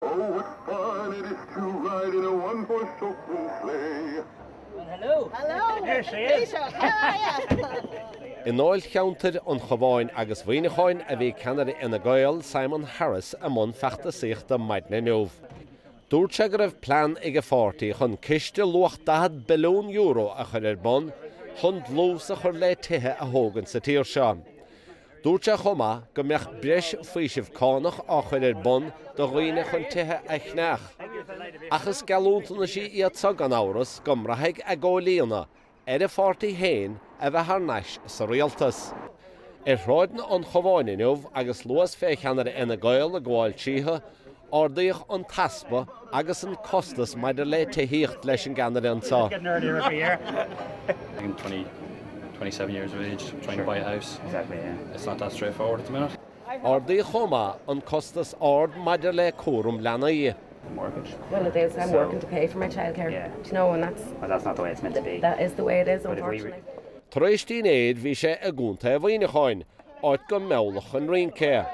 Oh what fun it is to ride in a one horse open sleigh. Well hello! Hello! There she is! Taoiseach, how are you? I ndáilcheantair an Chabháin agus Mhuineacháin a bhí ceannaire Fhine Gael, Simon Harris, i mbun feachtasaíochta maidin inniu. Dúirt sé go raibh plean ag a pháirtí chun ciste luach €40 billiún a chur ar bun chun dlús a chur le tithe a thógaint sa tír seo. Dúirt sé chomh maith go mbeadh breis faoisimh cánach á chur ar bun do dhaoine chun tithe a cheannach. Ach is geallúntaisí iad so gan amhras go mbraithfidh a gcomhlíonadh ar a pháirtí féin a bheith thar n-ais sa rialtas. Ar shráideanna an Chabháin inniu agus luas fé cheannaire Fhine Gael ag gabháil tríothu, Ardaíodh an t-easpa agus an costas maidir le tithíocht leis an gceannaire anseo. Ardaíodh chomh maith an costas ard maidir le cúram leanaí. Tar éis dinnéir bhí sé i gContae Mhuineacháin áit go meallfadh an rince é.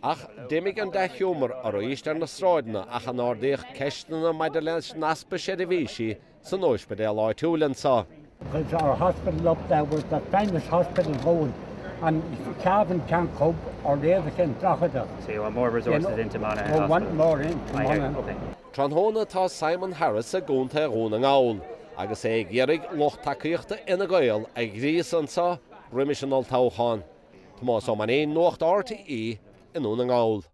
Ach d'imigh an dea-ghiúmar arís ar na sráideanna ach a n-ardaíodh ceisteanna maidir leis an easpa seirbhísí san óispidéal áitiúil anseo. There's our hospital up there, we've the finest hospital going, and Cavan can't cope, or the other thing, Drogheda, you know, we want more into Monaghan. Tráthnóna tá Simon Harris i gContae Dhún na nGall agus é ag iarraidh lucht tacaíochta Fhine Gael a ghríosadh anseo roimis an olltoghchán. Tomás Ó Mainnín, Nuacht RTÉ i nDún na nGall.